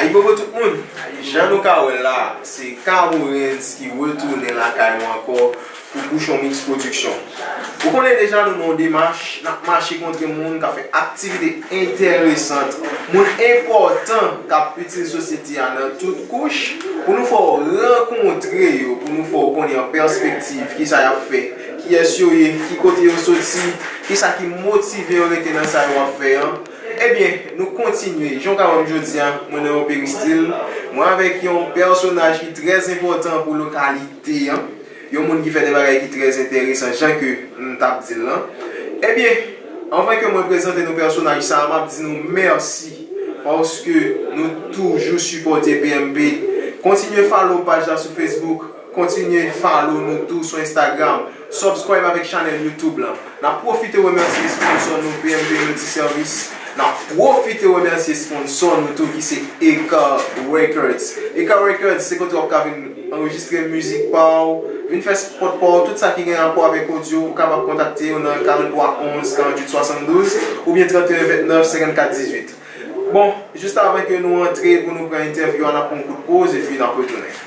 Ayibobo tout moun, jan nou ka wè la se K-Orenz ki retounen lakay nou ankò pou Pouchon Mix Production. Ou konnen deja nou nan yon demach, n ap mache kontre moun k ap fè aktivite enteresant, moun enpòtan k ap itil sosyete a nan tout kouch, pou nou fè w rankontre yo, pou nou fè w konnen an pèspektiv ki sa y ap fè, kiyès yo ye, ki kote yo soti, ki sa ki motive yo rete nan sa yo ap fè an. Ebyen, nou kontinye, jan w ka wè m jodi a, mwen nan yon peristil, mwen avèk yon pèsonaj ki trè enpòtan pou lokalite an. Yon moun ki fè de bagay ki trè enteresan jan ke m t ap di l lan. Ebyen, anvan ke mwen prezante nou pèsonaj sa a, m ap di nou mèsi paske nou toujou sipòte PMP. Kontinye follow paj la sou Facebook, kontinye follow nou tou sou Instagram, subscribe avèk chanèl YouTube lan. N ap pwofite remèsye sponsò nou PMP Multiservice. N ap pwofite remèsye sponsò nou tou ki se Eka Records. Eka Records se kote w ap ka vin anrejistre mizik pa w, vin fè spòt pa w, tout sa ki gen rapò avèk odyo, ou kapab kontakte yo nan 43 11 48 72 oubyen 31 29 54 18. Bon, jis avan ke nou antre pou nou pran entèvyou a, n ap pran yon kout poz epi n ap retounen.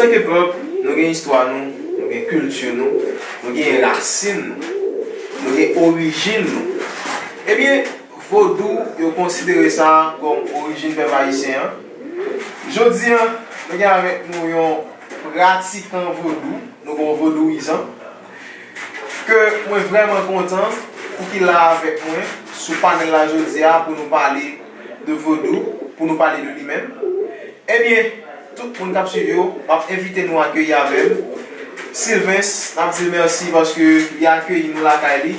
Antanke pèp, nou gen istwa nou, nou gen kilti nou, nou gen rasin nou, nou gen orijin nou. Ebyen, Vodou, yo konsidere sa kòm orijin pèp ayisyen an. Jodi a, nou gen avèk nou yon pratikan vodou, nou gen yon vodouyizan, ke mwen vrèman kontan pou ki la avèk mwen sou panèl la jodi a pou nou pale de vodou, pou nou pale de li menm. Ebyen! Tout moun kap swiv yo map envite nou akeyi avèm Sylvains nap dil merci paske li akeyi nou lakay li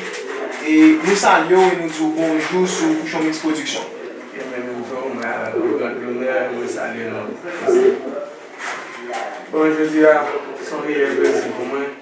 e nou salyew e nou diw bonjou sou Pouchon Mix Production. Ebyen nou tou mwen avèw grand lonè mwen salye nou isit. Bon jodi a son reyèl plezi pou mwen.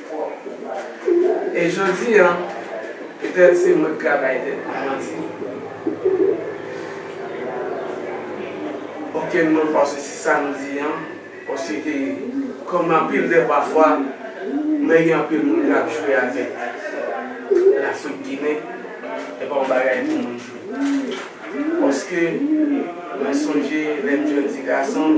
E jodi an, petèt se mwen ki ka bay tèt mwen manti. Okenn moun pa soti sa m di an, paske kòm anpil lè pafwa mwen gen anpil moun k ap jwe avèk Lafrik Ginen, e pa yon bagay pou moun jwe. Paske mwen sonje lè m jèn ti gason.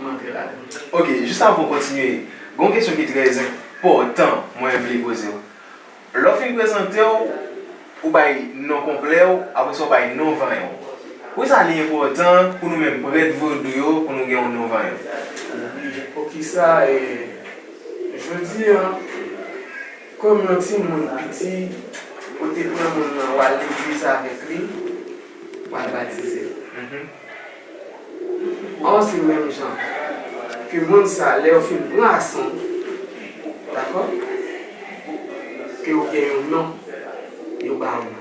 M antre ladan l. Ok, jis avan w kontinye, gen yon kesyon ki trè enpòtan mwen vle poze w. Lè w fin prezante w, ou bay non konplè w, apre sa w bay non vanyan w. Poukisa li enpòtan pou nou menm prèt vodou yo pou nou gen yon non vanyan? Oubyen poukisa e jodi an, kòm yon timoun piti, ou te pran moun nan, w al legliz avèk li, w al batize l? Or se menm jan ke moun sa lè yo fin pran aksyon dakò ke ou gen yon non yo ba ou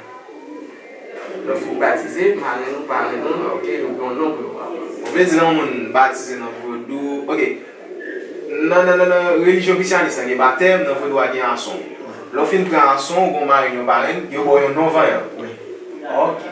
lè ou fin batize marenn ou parenn ou ok yo gen yon non pou yo ba ou. Ou vle di lè yon moun batize nan vodou ok nan nan nan relijyon krisyanis la gen batèm nan vodou a gen ason lè ou fin pran ason ou gen yon marenn yon parenn yo ba ou yon non vanyan ok.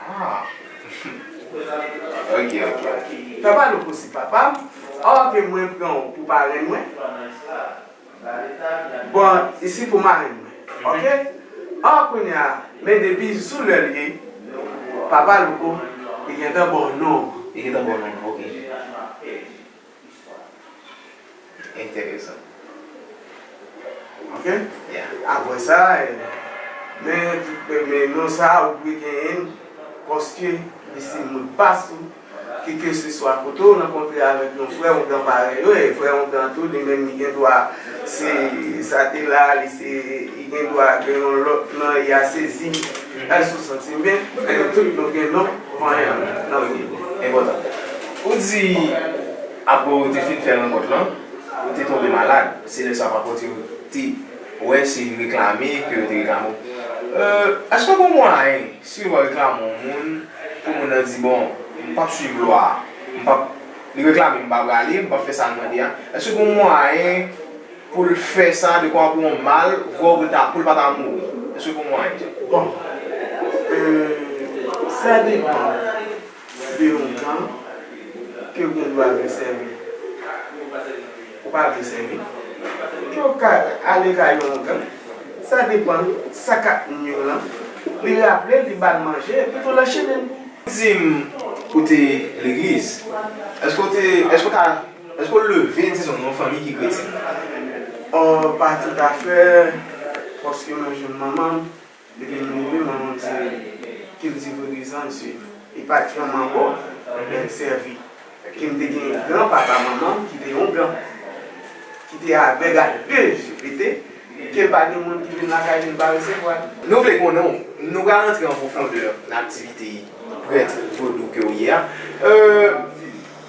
Ah ok ok. Papa louko se papa m. Ok mwen pran w pou parenn mwen. Bon isi pou marenn mwen ok. Ah kounye a men depi sou lè l ye papa louko li gentan ba w non an. Li gentan ba w non an ok. Histoire interessant ok yeah après sa men men non sa ou dwe genyenn paske li se modpas ou ke ke se swa kote ou rankontre avek yon frè ou dan parèy ou e frè ou dan tou li menm li gen dwa se sa te la li se li gen dwa gen yon lòt nan e ya sezi èske ou santim byen men nou tout nou gen non vanyan nan nou enpòtan. Ou di, apre ou te fin fè rankont lan, ou te tonbe malad, se lè sa pankòt yo te wè se reklame ke yo te reklame ou. Èske gon mwayen, si yo reklame yon moun, pou moun nan di, bon, m p ap swiv lwa a, m p ap, li reklame m, m pa prale, m p ap fè sa l mande a, èske gon mwayen pou l fè sa dekwa pou yon mal vre ou pou l ta, pou l pa ta mouri? Èske gon mwayen? Bon, sa depan. Si te yon gang, ke gang yo al vin sèvi? Ou pa vle sèvi? Yo ka ale kay yon gang, sa depan sa kap nwiw lan, li raplel, li bal manje, epi tou l anchennen l. Dim, ou te legliz? Eske ou te, eske ou ta, eske ou leve, dizon, nan yon fanmi ki kretyen? Ohh, pa toutafè, paske mwen jwenn manmanm, Depi m mouri mwen moun se kilti vodou sa m swiv. E pati yon manbo ebyen m sèvi. Ke m te gen gran papa manman m ki te yon blan. Ki te avèg a 2 je. E te ke pa gen moun ki vin lakay li m pa resevwa l. Nou vle konnen w, nou pral antre an pwofondè nan aktivite prèt vodou ke w ye a.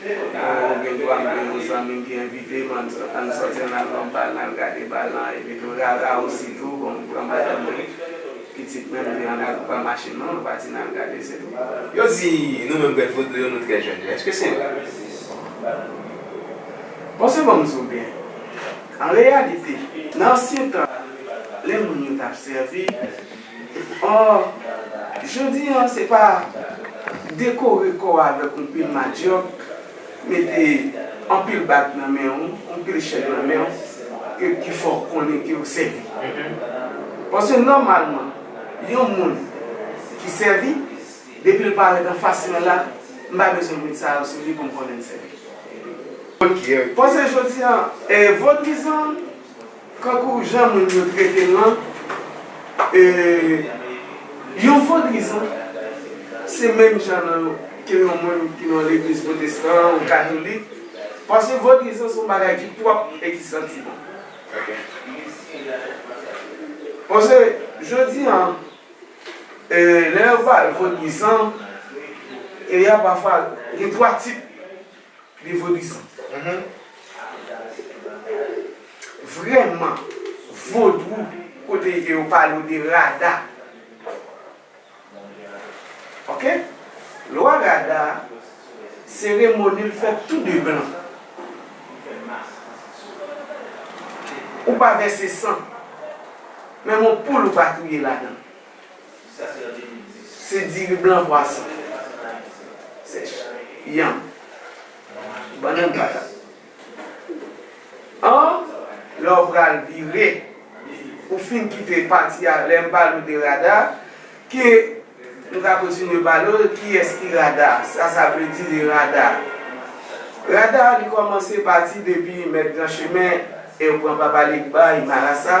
Nou gen dwa m gen yon zanmi m ki envite m an n sòti an n al pran bal n al gade bal lan epitou rara osi tou bon m pran madanm mwen pitit mwen nou 2 an n al nou pa mache non nou pati n al gade se tou. Yo di nou menm Grèt Vodou yo nou trè jèn èske se vre? Bon se bon m di w byen an reyalite nan ansyen tan lè moun yo t ap sèvi. Or, jodi an se pa dekore kò avèk on pil madyòk, mete anpil bag nan men ou, on pil chèn nan men ou ke ki fè w konnen ke w sèvi. Paske nòmalman, yon moun ki sèvi, depi l parèt anfas mwen la, m pa bezwen met sa yo sou li pou m konnen l sèvi. Paske jodi an, vodwizan. Kankou jan moun yo trete l lan, yon vodrizan se menm jan nan ke yon moun ki nan yon legliz pwotestan ou katolik, paske vodrizan se yon bagay ki pwòp e ki santi bon. Paske jodi a, lè yo pale vodrizan, e y a pafwa gen twa tip. Nivo dizon. Vrèman vodou kote e ke yo pale ou de rada. Ok. Lwa rada a, seremoni l fèt tou de blan. Ou pa vèse san. Menm yon poul ou pa touye ladan. Se diri blan pwason. Sèch. Yanm. Bannann patat. An, lè w pral vire, ou fin kite pati a, lè m pale w de rada, ke nou ka kontinye pale w, kiyès ki rada, sa sa vle di de rada. Rada a li kòmanse pati depi Mèt Gran Chemen e w pran Papa Legba e Marasa,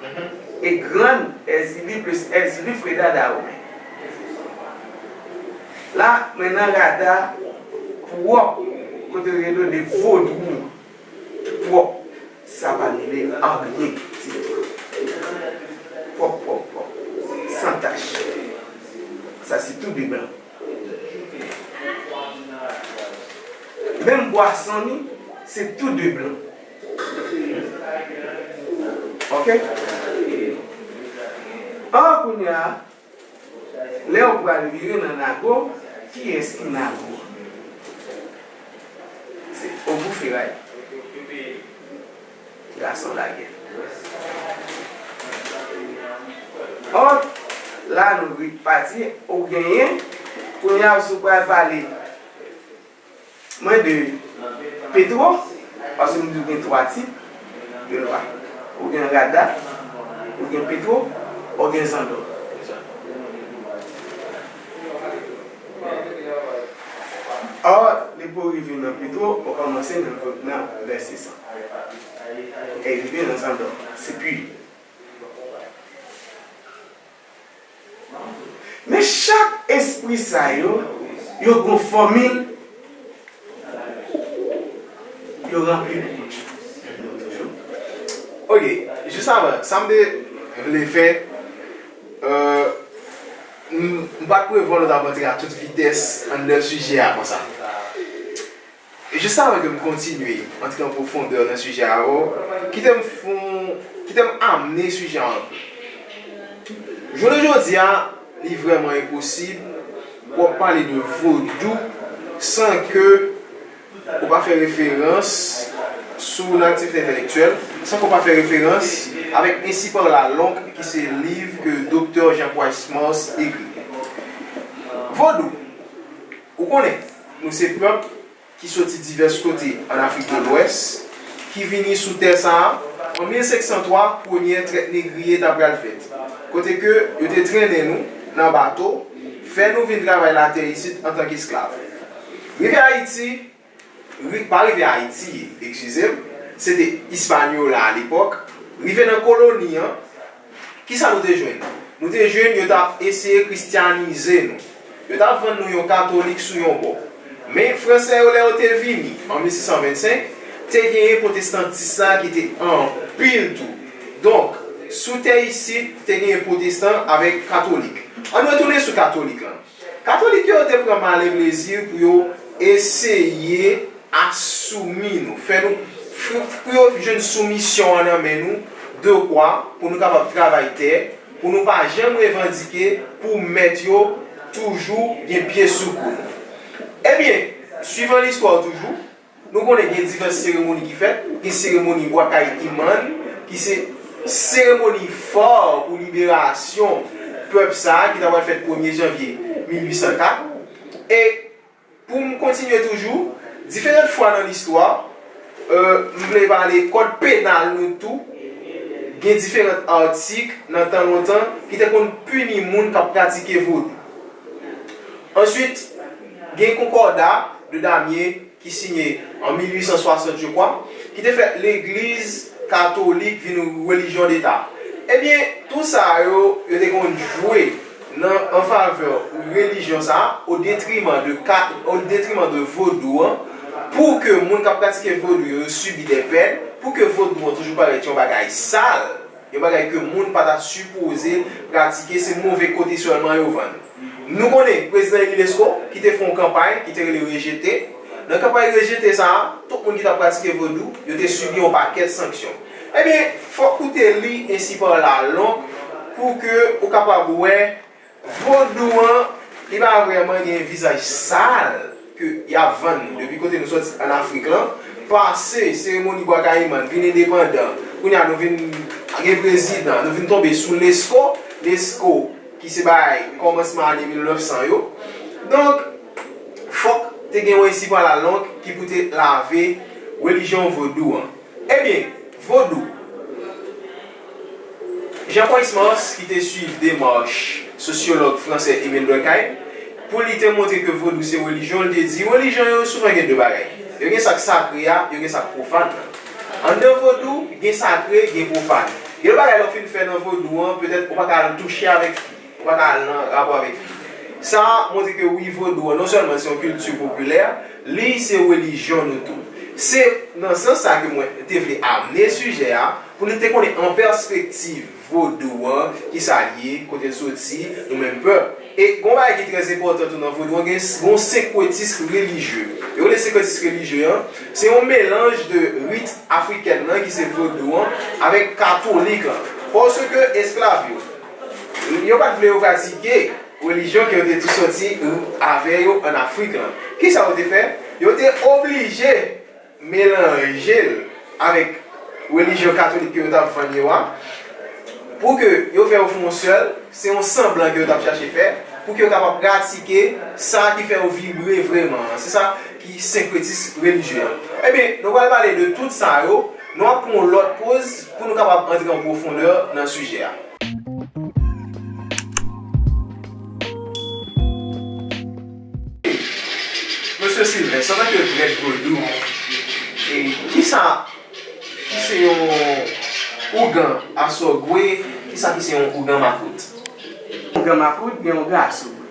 Hum e grann èzili plus èzili fre dada ou menm la mwen nan rada pwòp kote yo rele le vodou ki pwòp sa pa mele anyen ditou pwòp pwòp pwòp san tach sa se tou de blan menm bwason li se tou de blan. Ok Oh kounya lèw pral vire nan nago kiyès ki nago se ogou feray gason lagè oh la nou ret pati ou genyen kounya sou pral pale. Mwen de petro paske m di w gen 3 tip de lwa ou gen rada ou gen petro ou gen zandò. Ò li pou rive nan petro ou kòmanse nan vèse san e rive nan zandò se pu. Men chak espri sa yo, yo gon fòmil yo ranpli pou yo. Ok, jis avan, sa m te vle fè, m pa t prevwa nou t ap antre a tout vitès anndan sijè a konsa. Jis avan ke m kontinye antre an pwofondè nan sijè a avè w, kite m fon, kite m amnen sijè an anpè. Jounen jodi a, li vrèman enposib pou w ap pale de Vodou san ke ou pa fè referans sou nan aktivite entèlektyèl, san ke w pa fè referans avèk Ainsi par la langue ki se liv ke Doktè Jean Price Mars ekri. Vodou, ou konnen. Nou se pèp ki soti divès kote ann Afrik de Lwès ki vini sou tè sa a an 1503 premyè trèt negriye ta pral fèt kote ke yo te trennen nou nan bato fè nou vin travay latè isit antan k esklav. Rive Ayiti, ri, pa rive Ayiti, ekskize m, se te Ispanyola alepòk, rive nan koloni an, Ki sa nou te jwenn? Nou te jwenn yo t ap eseye kristyanize nou. Yo t ap vann nou yon katolik sou yon bò. Men, Fransè yo, lè yo te vini, an 1625, te genyen pwotestantis la ki te anpil tou. Donk, sou tè isit, te genyen pwotestan avèk katolik. Ann retounen sou katolik lan. Katolik yo te pran male plezi pou yo eseye asoumi nou, fè nou, pou yo jwenn soumisyon an nan men nou, dekwa pou nou kapab travay tè, pou nou pa janm revandike, pou mèt yo toujou gen pye sou kou nou. Ebyen, swivan listwa toujou. Nou konnen gen divès seremoni ki fèt, gen seremoni Bwa Kay Iman ki se seremoni fò pou liberasyon pèp sa a ki ta pral fèt premye janvye 1804. E pou m kontinye toujou, diferant fwa nan listwa, m vle pale kòd penal nou tou, gen diferant atik nan tan lontan ki te konn pini moun k ap pratike vodou. Answit, gen konkòda. de Damiens ki siyen an 1860 je kwa, ki te fè legliz katolik vin relijyon deta. Ebyen tou sa yo, yo te konn jwe nan an favè relijyon sa o detriman de ka, o detriman de vodou an, pou ke moun k ap pratike vodou yo, yo sibi dè pèn, pou ke vodou an toujou parèt yon bagay sal. Yon bagay ke moun pa ta sipoze pratike, se move kote sèlman yo vann. Nou konnen prezidan eli Lesko ki te fè yon kanpay ki te rele Rejete. Nan kanpay Rejete sa a, tout moun ki t ap pratike Vodou, yo te sibi yon pakèt sanksyon. Ebyen, fòk ou te li ensi pa la long pou ke ou kapab wè. Vodou an li pa vreman gen yon vizaj sal ke yap vann nou depi kote nou soti an afrik lan pase seremoni bwa kayiman n vin endepandan kounye a nou vin gen prezidan nou vin tonbe sou lesko lesko ki se bagay kòmansman ane 1900 yo donk fòk te gen yon esipo alalonk ki pou te lave relijyon vodou an. Ebyen, Vodou. Jean Huysmans, ki te swiv demach sosyològ fransè Emile Durkheim, pou li te montre ke Vodou se relijyon, li te di, relijyon yo souvan gen de bagay. Yo gen sa k sakre a, yo gen sa k pwofàn nan. Anndan Vodou, gen sakre, gen pwofàn. Gen de bagay lè w fin fè nan Vodou an, petèt ou pa ka al touche avèk fi. Ou pa ka al nan rapò avèk li. Sa montre ke wi vodou an non sèlman se yon kilti popilè, li se relijyon nou tou. Se nan sans sa ke mwen te vle amne sijè a pou nou te konnen an pèspektiv vodou an ki sa l ye, kote l soti, nou menm pèp. E gon bagay ki trè enpòtan tou nan vodou an gen yon senkretism relijye. Yo rele senkretism relijye an, se yon melanj de rit afrikèn nan ki se vodou an avèk katolik lan. Paske esklav yo. Yo pa t vle yo pratike relijyon ke yo te tou soti avè yo ann Afrik lan. Kisa yo te fè? Yo te oblije melanje l avèk relijyon katolik ke yo t ap vann yo a, pou ke yo fè yo fè yon sèl, se yon sanblan ke yo t ap chache fè, pou ke yo kapab pratike sa ki fè yo vibre vreman an. Se sa. ki senkretis relijye a. Ebyen, nou pral pale de tout sa yo, nou ap pran yon lòt poz pou nou kapab antre an pwofondè nan sijè a. Mesye Sylvens, antanke prèt vodou, kisa ki se yon ougan asògwe, kisa ki se yon ougan makout? Ougan makout gen yon gras ou vre.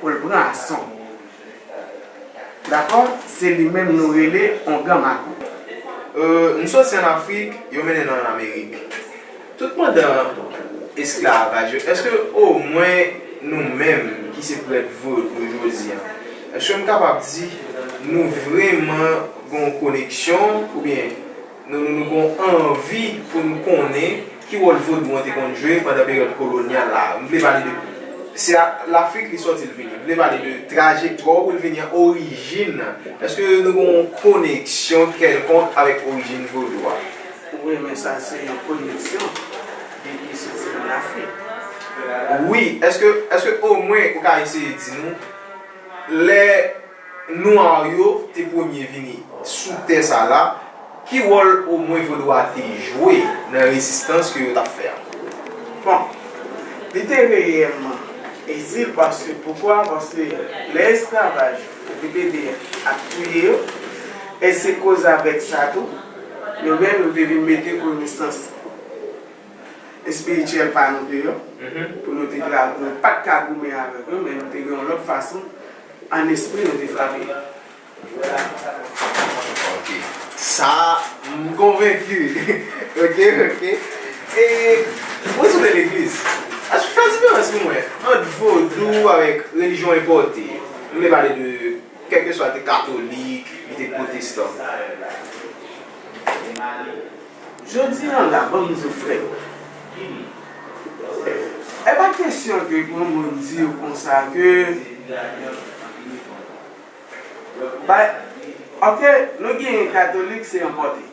Pou l pran ason. Dakò, se li menm nou rele ongan makout. M soti ann Afrik, yo mennen nan ann Amerik. Tout pandan esklavaj yo, èske omwen nou menm ki se prèt vodou jodi a, èske m kapab di nou vreman gen yon koneksyon oubyen. Nou nou nou gon anvi pou n konnen ki wòl vodou an te konn jwe pandan peryòd kolonyal la. M vle pale de. Se a Lafrik li sòti l vini. M vle pale de trajektwa w pou l vini an, orijin nan. Èske nou gon yon koneksyon kèlkonk avèk orijin vodou a? Wi, men sa se yon koneksyon depi soti an Lafrik. Wi, èske, èske omwen ou ka eseye di nou lè. Nwa yo te premye vini sou tè sa la, ki wòl omwen vodou a te jwe nan rezistans ke yo t ap fè a? Bon, li te reyèlman itil paske, poukwa? Paske lè esklavaj yo te pede ap touye yo, e se koz avèk sa tou, nou menm nou te vin mete konesans espirityèl pa nou deyò, pou nou te ka, nou pa t ka goumen avèk yo, men nou te gen yon lòt fason. An espri nou te frape. Ok sa m konvenki ok ok e mwen souple legliz aske fè diferans pou mwen ant vodou avèk relijyon enpòte m vle pale de kèlkeswa li te katolik li te pwotestan. Jodi an la banm diw frèt. Epa kesyon ke yon moun diw konsa ke bay ok nou gen katolik se enpòte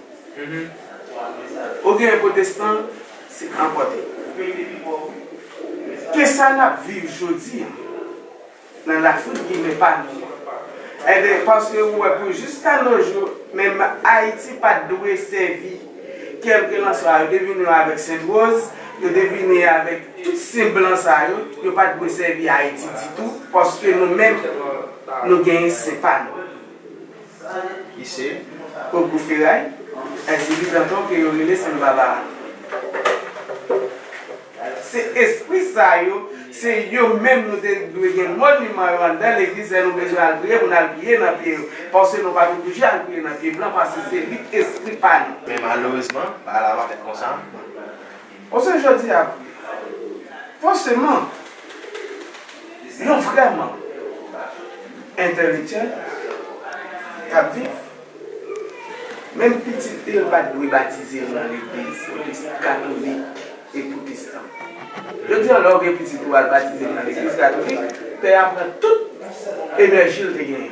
ou gen potestan se enpòte ke sa nap viv jodi an. Nan la fout ginen pa nou an. Enben paske ou wè pou jiska nojou menm Ayiti pat dwe sèvi kèlkelanswa yo te vini yo avèk Sent Woz, yo te vini avèk tout sen blan sa yo, yo pat dwe sèvi Ayiti ditou paske nou menm nou genyen sen pa nou. Ki se Ogou Feray ak Zili Danton ke yo rele Sanbaba a. Se espri sa yo, se yo menm nou te dwe gen moniman yo anndan legliz lè nou bezwen al priye pou n al priye nan pye yo. Paske nou pa te oblije al priye nan pye blan paske se lit espri pa nou. Men malerezman, bagay la pa fèt konsa. O se jodi a vre. Fòseman, yon vrèman entèlektyèl k ap viv, menm pitit li yo pa t dwe batize yo nan legliz katolik e pwotestan. Jodi a lè w gen pitit ou al batize l nan legliz katolik, pè a pran tout enèji l te genyen.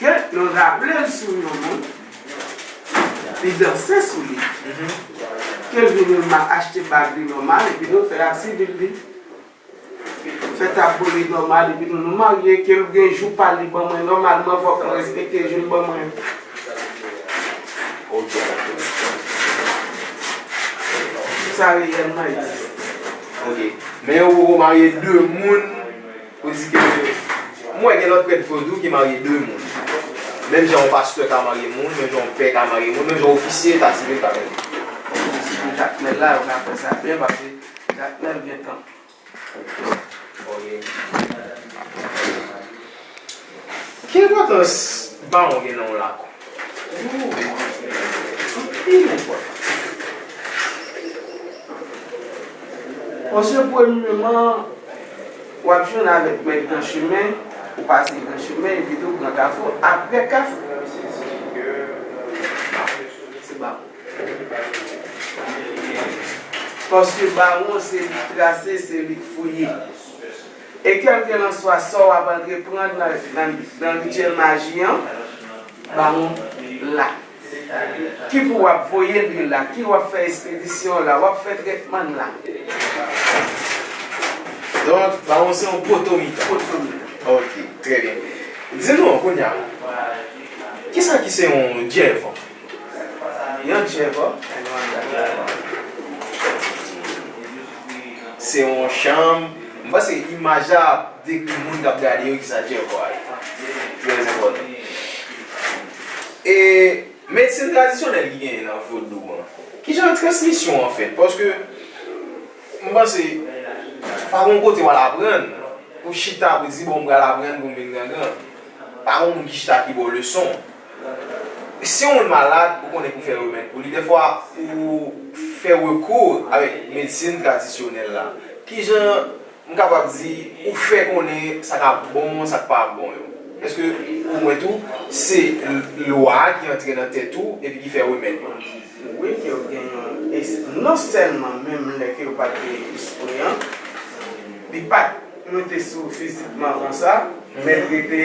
Ke yo raple l sou yon moun, li danse sou li, ke l vin yon mal, achte bag li nòmal, epi nou fè a sivil li, fè tabou li nòmal, epi nou nou marye, ke l gen jou pa l li ban mwen nòmalman, fòk mwen respekte jou l ban mwen yo. Sa reyèlman egziste. Ok. Men yo poko marye de moun. Ou di ke m wè gen lòt prèt vre tou ki marye 2 moun. Menm jan yon pastè ka marye moun, menm jan yon pè ka marye moun, menm jan yon ofisye eta sivil ka marye moun. Bon, si pou Jakmèl la, yo ka fè sa byen paske Jakmèl gen tanp. Ok. Ki enpòtans bawon gen nan yon lakou? Ooh anpil enpotans. Monche premyeman wap jwenn avek mèt gran chemen ou pase gran chemen epi tou gran kafou apre kafou se bawon paske bawon se li trase se li fouye. E kèlkelanswa sa w ap antreprann nan rityèl maji an, bawon la. Ki pou w ap voye lwil la, ki w ap fè espedisyon la, w ap fè trètman l la. Donk, bawon se yon potomitan. Potomitan. Ok, trè byen. Di nou, kounye a, ki sa ki se yon dyèvan? Se yon chanm, m panse imaj la ap dekri moun kap gade yo kisa djèvò a ye. Trè enpòtan. E medsin tradisyonèl ki genyen nan vodou an, kijan transmisyon an fèt? Paske m panse pa gon kote wal aprann, pou chita pou di bon m pral aprann pou m vin grangran. Pa gon moun ki chita ki ba w leson. Si yon moun malad, ou konnen pou fè remèd pou li, dèfwa ou fè rekou avèk medsin tradisyonèl la. Ki jan m kapab di ou fè konnen sa k ap bon, sa k pa bon yo? Pèske pou mwen tou, se lwa a ki antre nan tèt ou epi ki fè remèd yo. Wi, ke yo gen yon es, non sèlman menm lè ke yo pa t gen espri an, li pa t monte sou ou fizikman konsa, men l rete.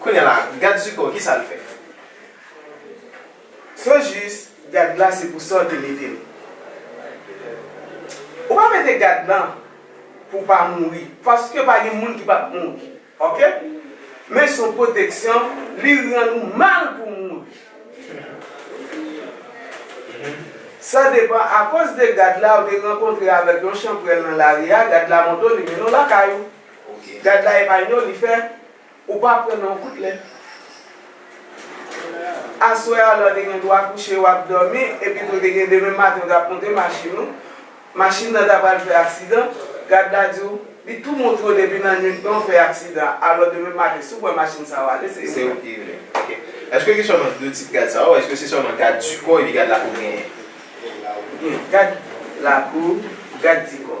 Kounya la gad zuko kisal fè. Sou jus gad la se pou sa ou te metel. Ou pa mete gad lan pou w pa mouri paske pa gen moun ki pap mouri ok men se yon pwoteksyon li rann ou mal pou w mouri sa depan akoz de gad la ou te rankontre avèk yon chanprèl nan lari a gad la monte w li mennen w lakay ou. Ok gad la epa yon li fè ou pa pran non kout lè aswè a lè w te gen dwa kouche wap dòmi epi tou te gen demen maten ou tap monte machin ou machin nan ta pral fè aksidan gad la di w li tou montre w depi nan nwit lan w fè aksidan alò demen maten si w pran machin sa wale se ou menm. Ok èske gen sèlman 2 tip gad sa ou èske se sèlman gad di kò epi gad lakou genyen? Gen gad lakou gad di kò.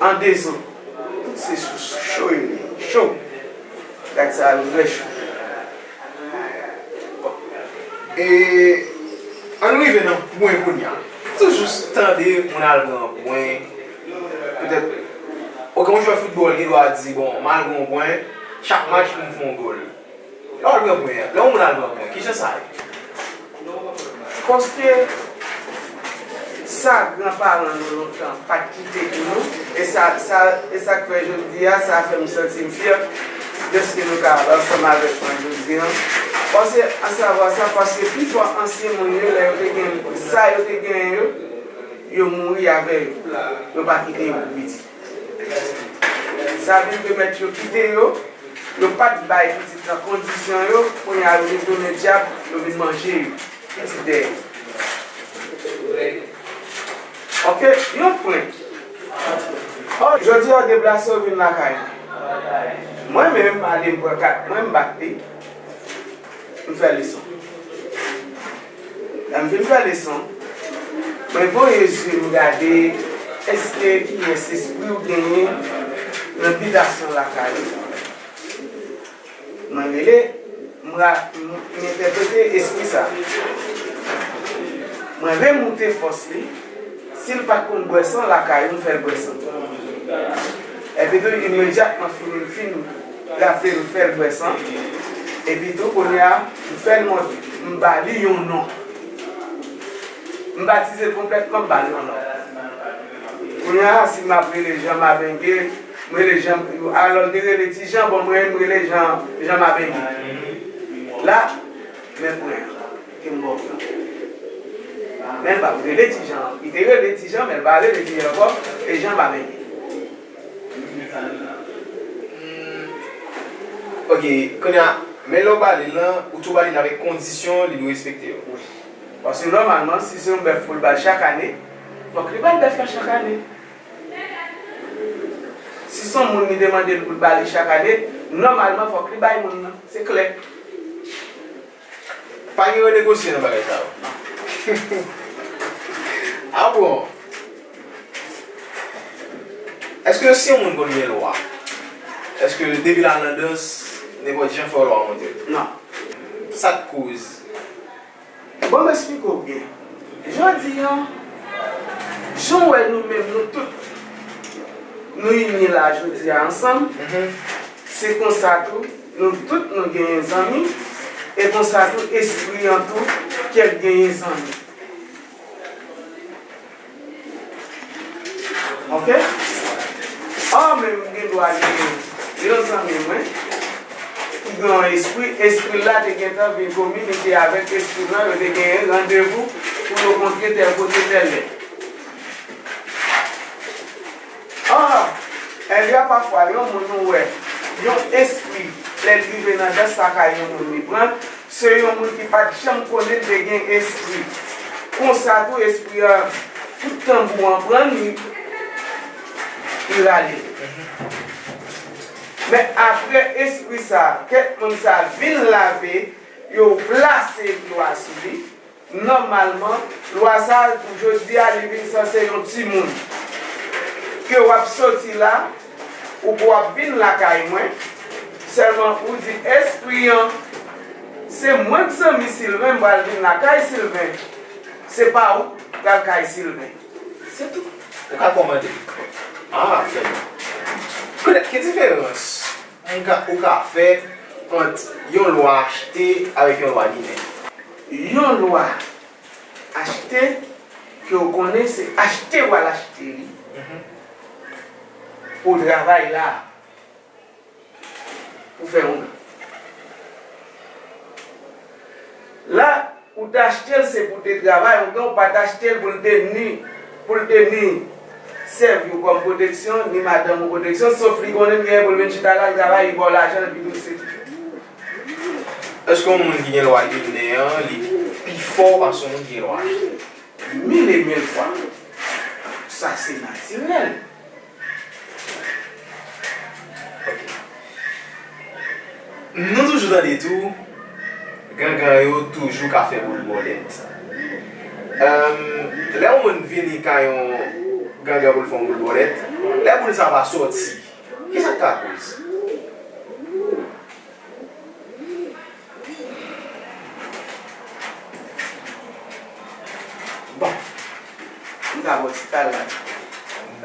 An dezon tout se sou cho yo ye cho gad sa yo vrè cho e ann rive nan pwen kounya sou jous tande moun al gen yon pwen petèt ou gen yon jwè foutbòl gen dwa di bon mal gen yon pwen chak match pou m fè yon gòl. Lè w al pran mwen, lè yon moun al pran mwen, ki jan sa ye? Paske, sa gran paran nou lontan pa t kite pou nou, e sa, sa, e sa k fè jodi a, sa fè m santi m fyè dèske nou ka ansanm avèk mwen jodi an. Pase, asavwa sa, paske pi fò ansyen moun yo, lè yo te gen sa yo te genyen yo, yo mouri avè yo. Yo pa kite yo pou piti. Zanmi Remèt yo kite yo, yo pa t bay pitit lan kondisyon yo, kounye a yo detounen dyab, yo vin manje yo. Pitit dèyè. Ok, yon prank. Oh, jodi a w deplase w vin lakay mwen. Mwen menm m ale m pran kat mwen m bat li, m fè leson. Lèm fin fè leson, mwen voye zye m gade eske kiyès espri ou genyen nan bitasyon lakay ou. Mwen rele, m ra, m entèprete espri sa. Mwen remoute fòs li, si l pat konn bwè san lakay ou m fè l bwè san. Èpito imedyatman fini m fin. Rafle m fè l bwè san. Epi tou kounye a m fè l mòde. M ba li yon non. M batize l konplètman, m ba l yon non. Kounye a si m ap rele Jan Mabenge, m rele Jan, alò l te rele Ti Jan, bon mwen m rele Jan, Jan Mabenge. La, men pwen an ke m ba w lan. Men l pa p rele Ti Jan. Li te rele Ti Jan men l pa rele Ti Jan ankò, e Jan Mabenge. Ok, kounye a, men lè w ba li l lan, ou tou ba li l avèk kondisyon li dwe respekte yo. Wi. Paske nòmalman, si se yon bèf pou l bay chak ane, fòk li ba l bèf la chak ane. Si se yon moun li demande l pou l ba li chak ane, nòmalman fòk li bay moun nan. Se klè. Pa gen renegosye nan bagay sa yo. Ah bon! Eske yo si yon moun konn gen lwa? Eske depi la nan dans nenpot jan fo lwa monte? Non. Sak koz? Bon m esplike w byen. Jodi an, jan w wè nou menm nou tout nou ini la jodi a ansanm, se konsa tou. Nou tout nou genyen zanmi e konsa tou espri an tou kèk genyen zanmi ok or menm m gen dwa genyen yon zanmi mwen ki gen yon espri espri la te gentan vin kominike avèk espri m lan yo te genyen randevou pou yo kontre tèl kote tèl lè. Ahh! Elya pafwa yon moun ou wè yon espri lèl rive nan dans lakay yon moun li pranl se yon moun ki pat janm konnin te gen espri konsa tou espri an tout tanbou an prann li li rale men aprè espri sa kèk moun sa vin lave yo plase dlo a sou li. Nòmalman, lwa sa a, pou jodi a, li vin sanse yon timoun. Ke w ap soti la, ou ke w ap vin lakay mwen, sèlman ou di espri an, Se mwen k zanmi Silven, m pral vin lakay Silven. Se pa ou k pral kay Silven. Se tou. Ou ka kòmande. A, trè byen. Petèt, ki diferans m ka, ou ka fè ant yon lwa achte avèk yon lwa ginen? Yon lwa achte ke w konnen se achte w al achte li pou w travay la a pou w fè yon byen. La ou te achte l se pou w te travay yon byen ou pa t achte l pou l te ni pou l te ni sèvi w kòm pwoteksyon ni madanm ou pwoteksyon sof li konnen m genyen pou l vin chita la l travay li ba w lajan l epi tou l se Èske yon moun ki gen lwa ginen an li pi fò pase yon moun ki gen lwa ayisyèn? Mil e mil fwa! Sa se natirèl. Ok. Nou toujou tande tou, gangan yo toujou ka fè boul bòlèt. Emm, lè yon moun vini kay yon gangan pou l fè yon boul bòlèt, lè boul sa va soti, Ki sa k ka koz? Bon. Nou ka bò ti kal la.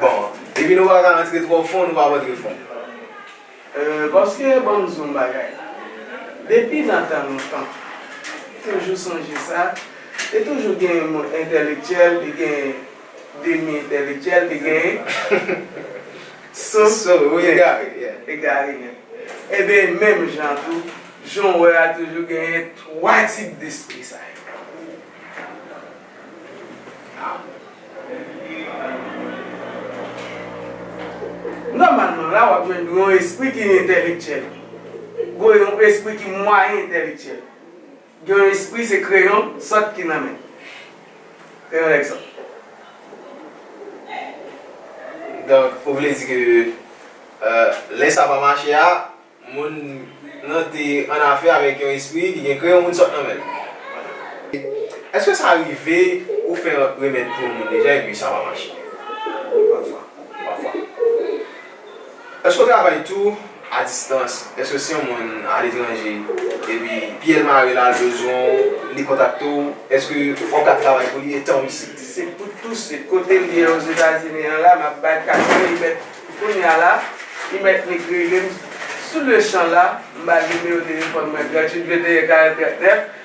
Bon. Depi nou pa ka antre twò fon, nou pa p antre fon. Euh, paske ban m di w yon bagay. Depi nan tan lontan, toujou sonje sa, te toujou gen moun entèlektyèl, te gen demi entèlektyèl li genyen sou egare nèt. Enben, menm jan an tou, jan w wè a toujou genyen twa tip despri sa yo. Nòmalman la, w ap jwenn yon espri ki entèlektyèl, yon espri ki mwayen entèlektyèl. Gen yon espri se kreyon sant ki nan men. Kreyon nèg sant. Donk ou vle di ke lè sa pa mache a, moun nan te annafè avèk yon espri ki gen kreyon moun sòt nan men l. Èske sa rive ou fè yon remèd pou yon moun deja epi sa pa mache? Wi pafwa. Pafwa. Èske w travay tou a distans? Èske si yon moun aletranje epi pyel mare la l bezwen w li kontakte w èske ou ka travay pou li etan w isit? Se pou tou swit. Kote m ye ozetazini an la map bay kat mwen li mèt kounya la li mèt nik rele m sou le chan la m bal nimewo telefòn mwen 38 21 40 39.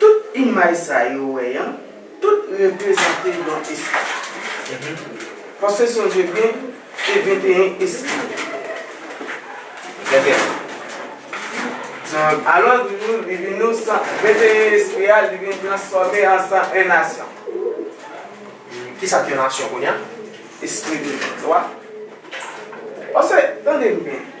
Tout imaj sa yo wè an, tout reprezante yon espri. Paske sonje byen, se 21 espri. 21. Alò di nou, li vin nou 21 espri a, li vin transfòme an 101 nasyon. Ki sa k yon nasyon kounye a? Espri de Kris la. Paske, tande m byen.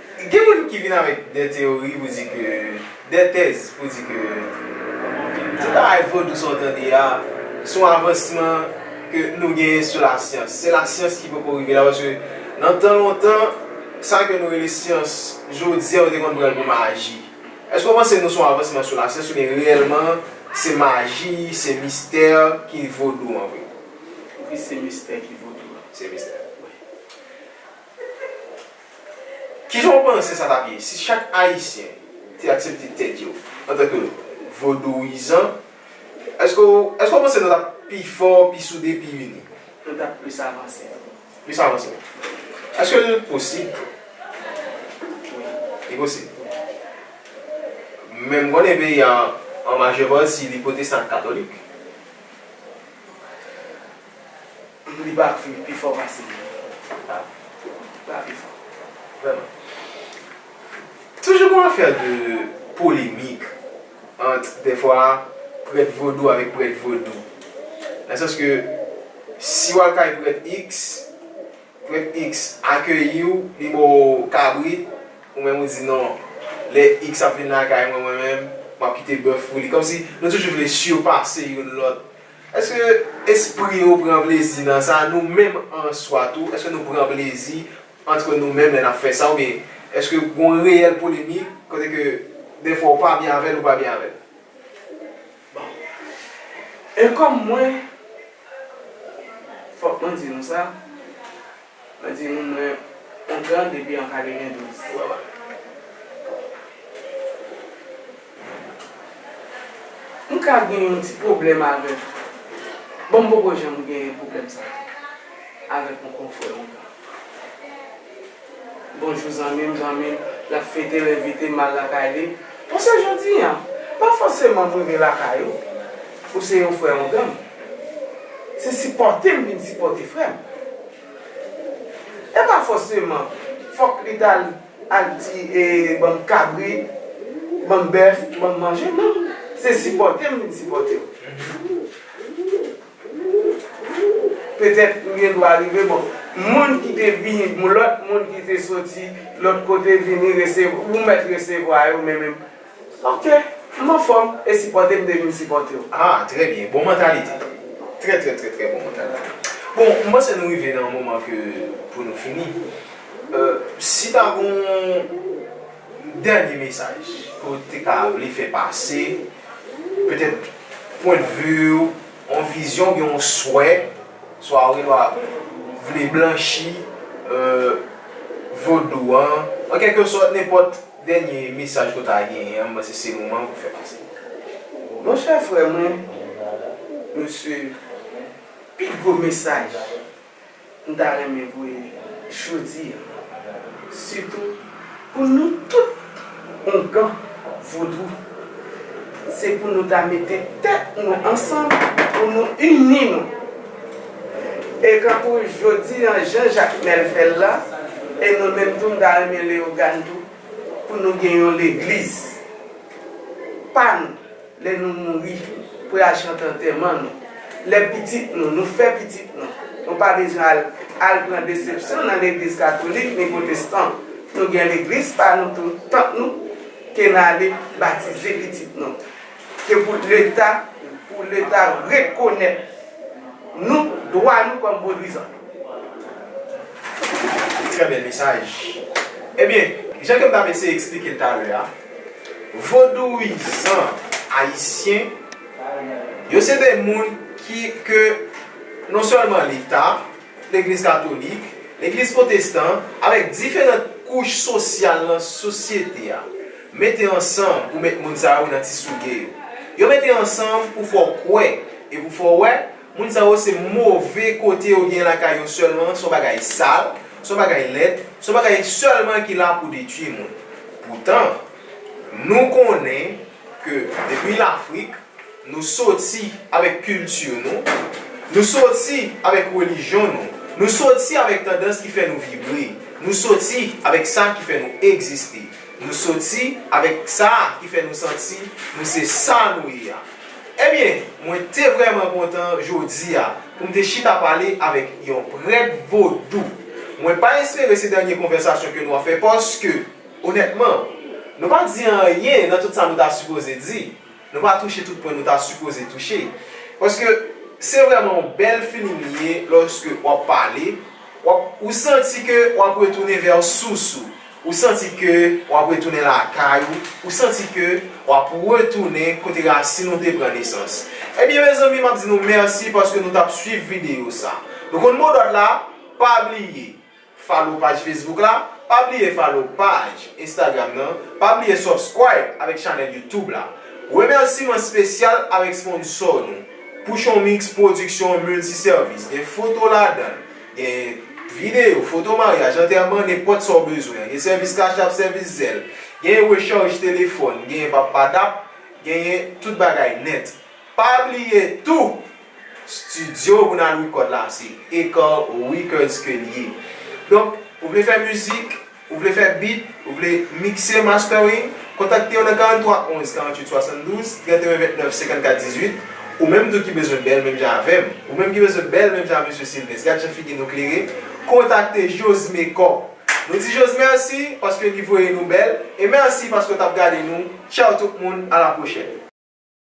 Gen moun ki vin avèk dè teyori pou di ke, dè tèz pou di ke tout bagay vodou sa w tande a se yon avansman ke nou genyen sou lasyans. Se lasyans ki poko rive la paske nan tan lontan sa ke nou rele syans jodi a yo te konn pran l pou maji. Èske w panse nou se yon avansman sou lasyans oubyen reyèlman se maji, se mistè ki vodou an vre? Wi se mistè ki vodou an. Se mistè. Wi. Kijan w panse sa t ap ye si chak Ayisyen te aksepte tèt yo antanke Vodouyizan? Èske w èske w panse nou t ap pi fò, pi soude, pi ini? Nou t ap plis avanse. Plis avanse. Èske l posib? Wi. Li posib. Men m konnen peyi a an majè pati li pwotestan ak katolik. Li pa fini pi fò pase li. Li pa pi fò. Vrèman. Toujou gon afè de polemik ant dèfwa prèt vodou avèk prèt vodou. Nan sans ke si w al kay prèt iks, prèt iks akeyi w, li ba w kabrit, ou menm ou di non, lè iks ap vin lakay mwen, mwen menm, m ap kite bèf pou li. Kòmsi nou toujou vle sipase youn lòt. Èske espri yo pran plezi nan sa? Nou menm an swa tou, èske nou pran plezi antre nou menm lè n ap fè sa? Oubyen, èske gen yon reyèl polemik kote ke dèfwa ou pa byen avè l, ou pa byen avè l? Bon. E kòm mwen, fòk mwen di nou sa. Mwen di moun mwen on tran depi an kateven douz. M ka gen yon ti pwoblèm avèk. Bon m poko janm gen pwoblèm sa avèk on konfrè on tran. Bonjou zanmi m, zanmi m l ap fete l envite m al lakay li. Bon se jodi an. Pa fòseman m rive lakay ou. Ou se yon frè ongan m. Se sipòte m vin sipòte frè m. E pa fòseman fòk li t al al di e ban m kabrit, ban m bèf, ban m manje. Non. Se sipòte m vin sipòte w. Petèt ou gen dwa rive bon. Moun ki te vini, lòt moun ki te soti lòt kote vini resevwa, ou mèt resevwa yo men menm. Ok m anfom e sipote m te vin sipote w. Ah trè byen bon mantalite trè trè trè trè bon mantalite bon m panse nou rive nan yon moman ke pou nou fini si ta gen yon dènye mesaj ke w te ka vle fè pase petèt pwendvi w yon vizyon oubyen yon swè swa ou gen dwa vle blanchi vodou an an kèlke sòt nenpòt. Dènye mesaj ke w ta genyen an, m panse se moman an pou w fè pase li. Mon chè frè mwen, mesye, pi gwo mesaj m ta renmen voye jodi an, sitou pou nou tout Ongan Vodou, se pou nou ta mete tèt nou ansanm, pou nou ini nou. E kankou jodi an jan Jakmèl fè l la, e mwen menm tou m ta renmen Leyogàn tou, pou nou gen yon legliz pa nou lè nou mouri pou y al chante antèman nou, lè pitit nou, nou fè pitit nou, nou pa bezwen al al pran desepsyon nan legliz katolik ni pwotestan. Nou gen legliz pa nou tou, tanp nou, ke n ale batize pitit nou. Se pou leta pou leta rekonèt nou dwa nou kòm vodwizan. Trè bèl mesaj. Ebyen, jan ke m t ap eseye eksplike l talè a, vodouizan ayisyen yo se de moun ki ke non sèlman leta, legliz katolik, legliz pwotestan avèk diferant kouch sosyal nan sosyete a. Mete ansanm pou met moun sa yo nan ti souge yo. Yo mete ansanm pou fè w kwè e pou fè w wè moun sa yo se move kote yo genyen lakay yo sèlman, se yon bagay sal, se yon bagay lèd, se yon bagay sèlman ki la pou detui moun. Poutan, nou konnen ke depi Lafrik, nou soti avèk kilti nou, nou soti avèk relijyon nou, nou soti avèk tandans ki fè nou vibre, nou soti avèk sa ki fè nou egziste. Nou soti avèk sa ki fè nou santi nou se sa nou ye a. Ebyen, mwen te vrèman kontan jodi a pou m te chita pale avèk yon prèt vodou. Mwen pa espere se dènye konvèsasyon ke nou ap fè paske, onètman, nou pa di anyen nan tout sa nou ta sipoze di. Nou pa touche tout pwen nou ta sipoze touche. Paske se vreman yon bel feeling li ye loske wap pale, wap, ou santi ke wap retounen vè sous ou. Ou santi ke wap retounen lakay ou, ou santi ke wap retounen kote rasin ou te pran nesans. Ebyen mezanmi map di nou merci paske nou tap swiv video sa. Nou konn modòd la, pa bliye. Follow paj Facebook la, pa bliye follow paj Instagram nan, pa bliye subscribe avèk chanèl YouTube la. Remèsiman spesyal avèk sponsor nou, Pouchon Mix Production Multi Service, gen foto ladanl, gen Video, foto maryaj, antèman, nenpòt sa w bezwen, gen sèvis cash-app, sèvis Zelle, gen recharge telefòn, gen pappadap, genyen tout bagay nèt. Pa bliye tou, studio pou nal record la se Ecor Records ke l ye. Donk, ou vle fè mizik, ou vle fè beat, ou vle mixer, mastering, kontakte yo nan 43 11 48 72, 31 29 54 18. Ou menm tou ki bezwen bèl menm jan avè m, ou menm ki bezwen bèl menm jan Mesye Sylvens, gad jan figi nou klere, kontakte Josmecor. Nou di Jose mèsi paske li voye nou bèl, e mèsi paske w t ap gade nou. Tchaw tout moun, a la pwochèn.